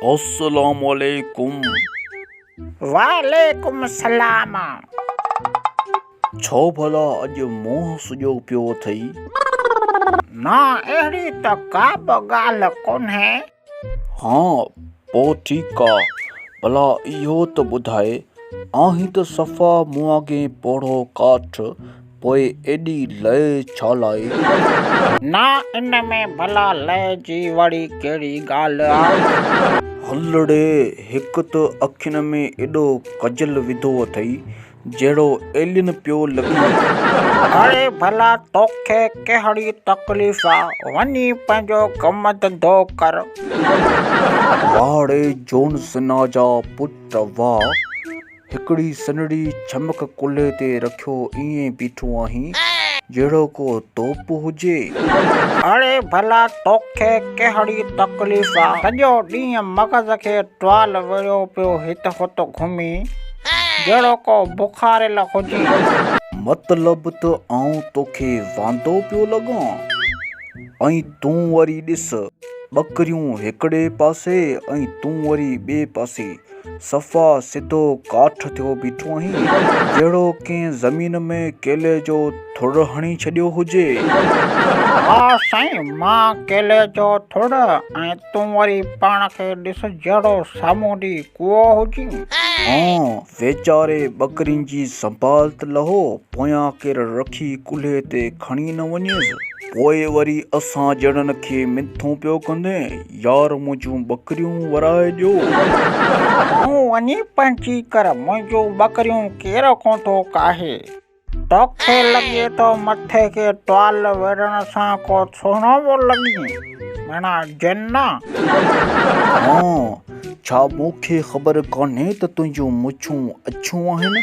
السلام عليڪم وعليڪم السلام ڇو ڀلا اڄ منهن سڄو پيو اٿئي؟ نه اهڙي ته ڪابه ڳالهه ڪونهي. ها پوء ٺيڪ آ. ڀلا اهو ته ٻڌاء، آهين ته صفا مون آگين پوڙهو ڪاٺ، پوء ايڏي لئه ڇا لاء؟ نا ان ۾ ڀلا لئه جي وڙي ڪهڙي ڳالهه آ؟ هلڙي، هڪ ته اکين ۾ ايڏو ڪجل وڌو اٿئي، جهڙو ايلين پيو لڳين. اڙي ڀلا توکي ڪهڙي تڪليف آ، وڃي پنهنجو ڪم ڌنڌو ڪر. واڙي جون سنا جا پٽ وا، هڪڙي سنهڙي ڇمڪ ڪلهي تي رکيو ائين بيٺو آهين، جهڙو ڪو توپ هجي. اڙي ڀلا توکي ڪهڙي تڪليف آ، سڄو ڏينهن مغز کي ٽوال وڙهيو پيو هت هت گهمي. جهڙو ڪو بخاريل هجي. مطلب ته آئون توکي واندو پيو لڳان ۽ تون وري ڏس. ٻڪريون هڪڙي پاسي ۽ تون وري ٻئي پاسي. صفا سڌو ڪاٺ ٿيو بيٺو آهين. جهڙو ڪنهن زمين ۾ ڪيلي جو ٿڙ هڻي ڇڏيو هجي. ها سائين، مان ڪيلي جو ٿڙ ۽ تون وري پاڻ کي ڏس جهڙو سامونڊي ڪوئو هجين. هان، ويچاري ٻڪرين جي سنڀال ته لهو، پويان ڪير رکي ڪلهي تي کڻي نه وڃيس. پوء وري اسان جهڙن کي منٿون پيو ڪندين، يار منهنجون ٻڪريون ورائي ڏيو. تون وڃي پنهنجي ڪر، منهنجون ٻڪريون ڪير ڪونه ٿو ڪاهي. توکي لڳي ٿو مٿي کي ٽوال ويڙهڻ سان ڪو سهڻو پيو لڳين، ميڻا جنا! ها، ڇا مون کي خبر ڪانهي ته تنهنجون مڇون اڇيون آهن؟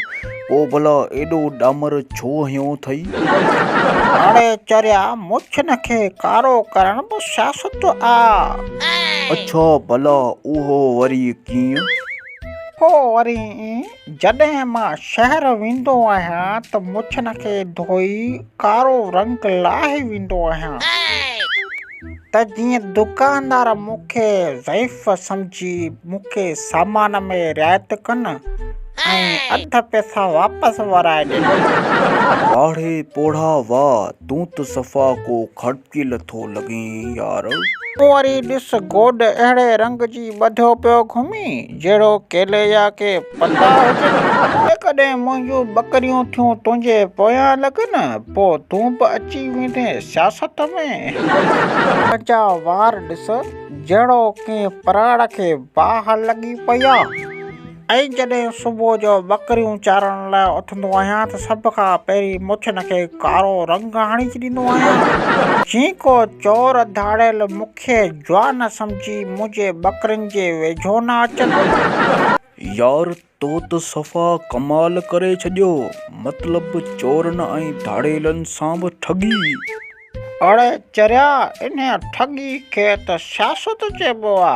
پوء ڀلا ايڏو ڏامر ڇو هنيو اٿئي؟ هاڙهي چريا، مڇن کي ڪارو ڪرڻ به سياست آ! اڇا، ڀلا اهو وري ڪيئن؟ پوء وري ائين جڏهن مان شهر ويندو آهيان ته مڇن کي ڌوئي ڪارو رنگ لاهي ويندو آهيان ته جيئن دڪاندار مون کي ضعيف سمجهي مون کي سامان ۾ رعايت ڪن ۽ اڌ پئسا واپس ورائي ڏين. واڙهي پوڙها واء تون ته صفا ڪو کٽ دل ٿو لڳين يار. تون وري ڏس گوڏ اهڙي رنگ جي ٻڌو پيو گهمين جهڙو ڪيلي جا ڪي پتا هجن. جيڪڏهن منهنجون ٻڪريون ٿيون تنهنجي پويان لڳن پو تون به اچي ويندين سياست ۾. تنهنجا وار ڏس جهڙو ڪنهن پراڙ کي باهه لڳي پئي آ. ۽ جڏهن صبح جو ٻڪريون چارڻ لاء اٿندو آهيان ته سڀ کان پهرين مڇن کي ڪارو رنگ هڻي ڇڏيندو آهيان، جئين ڪو چور ڌاڙيل مون کي جوان سمجهي منهنجي ٻڪرين جي ويجهو نه اچن. يار تو ته صفا ڪمال ڪري ڇڏيو، مطلب چورن ۽ ڌاڙيلن سان به ٺڳي. اڙي چريا انهيء ٺڳي کي ته سياست چئبو آ.